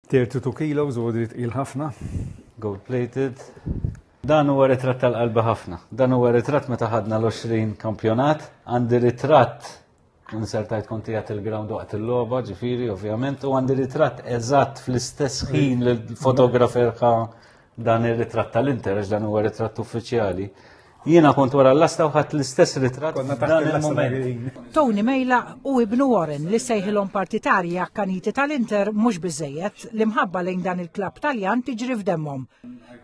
32 kilos u għodri tqil ħafna, gold plated. Dan huwa ritratt tal-qalbi ħafna. Dan huwa ritratt meta ħadna l-20 kampjonat, għandi ritratt insertajt konti għat il-ground waqt il-loba, ġifiri, ovvjament, u għandi ritratt eżatt fl-istess ħin l-fotografer ħa Dan ir-ritratt tal-interess dan huwa ritratt uffiċjali. Jiena kont wara l-lasta u ħadd l-istess ritratt dan il-moment. Tony Mejla u ibnu Warren li sejħilhom partitarji akkaniti tal-Inter mhux biżejjed li mħabba lejn dan il-klabb Taljan tiġri f'demmhom.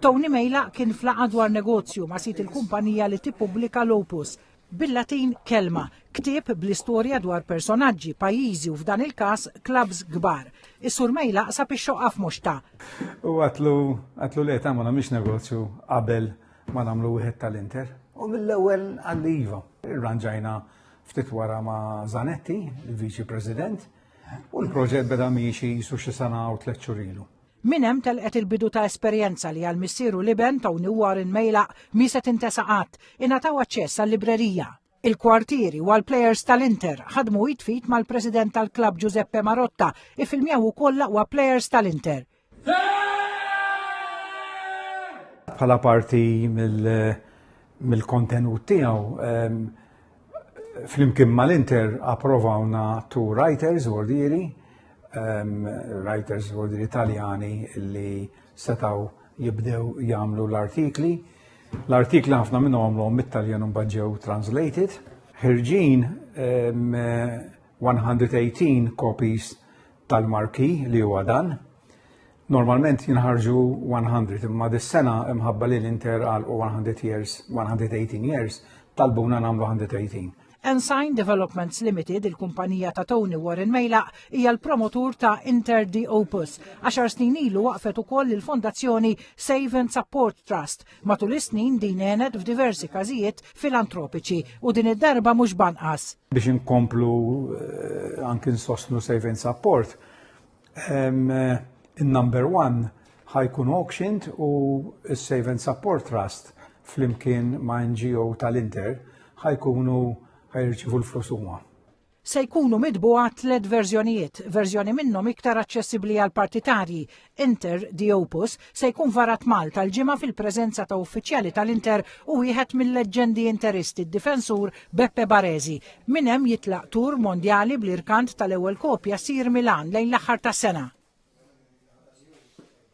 Tony Mejla kien flaqa dwar negozju ma' sit il-kumpanija li tippubblika l-Opus bil-Latin kelma, ktieb bl-istorja dwar personaġġi, pajjiżi u f'dan il-każ klabbs kbar. Is-surmej laqsab ix-xoqqa f'moxta. U għatlu, għatlu li għetamlu namiex negozju qabel ma namlu wieħed tal-Inter. U mill-ewwel għalli iva. Irranġajna ftit wara ma' Zanetti, il-Viċi President, u l-proġett beda miexi jisu xi sena u tliet xurilu. Min hemm telqet il-bidu ta' esperjenza li għal missieru liben Tony Warren Mejla mi se tintesa qatt, ingħataw aċċess għall-librerija. Il-kwartieri u għall-plejers tal-Inter ħadmu jitfit mal-President tal-Klabb Giuseppe Marotta ifilmjaw ukoll l-aqwa plejers tal-Inter. Bħala parti mill-kontenut tiegħu ehm, Flimkien mal-Inter approvawna tu writers ordiri, um, writers ordiri Italjani li setaw jibdew jagħmlu l-artikli. L-artikli ħafna minn għomlu mit-Taljan un ġew translated. Ħirġin um, 118 copies tal-marki li huwa dan Normalment jinħarġu 100 imma dis-sena imħabba li l-Inter għal 100 years, 118 years, talbuna nagħmlu 118. Ensign Developments Limited, il-kumpanija ta' Tony Warren Mejla, hija l-promotur ta' Inter di Opus. Għaxar snin ilu waqfet ukoll il-Fondazzjoni Save and Support Trust. Matul is-snin din għenet f'diversi każijiet filantropiċi u din id-darba mhux banqas. Biex inkomplu eh, anki nsostnu Save and Support, Il-number one ħajkun auctioned u s-Save and Support Trust flimkien ma' NGO tal-Inter ħajkunu ħajrċivu l-flus huma. Se jkunu midbuha tliet verżjonijiet, verżjoni minnhom iktar aċċessibbli għall-partitarji, Inter di Opus, se jkun varat Malta l-ġimgħa fil-preżenza ta' uffiċjali tal-Inter u wieħed mill-leġġendi Interisti d-difensur Beppe Baresi. Minn hemm jitlaq tour mondjali bl-irkant tal-ewwel kopja Sir Milan lejn l-aħħar tas-sena.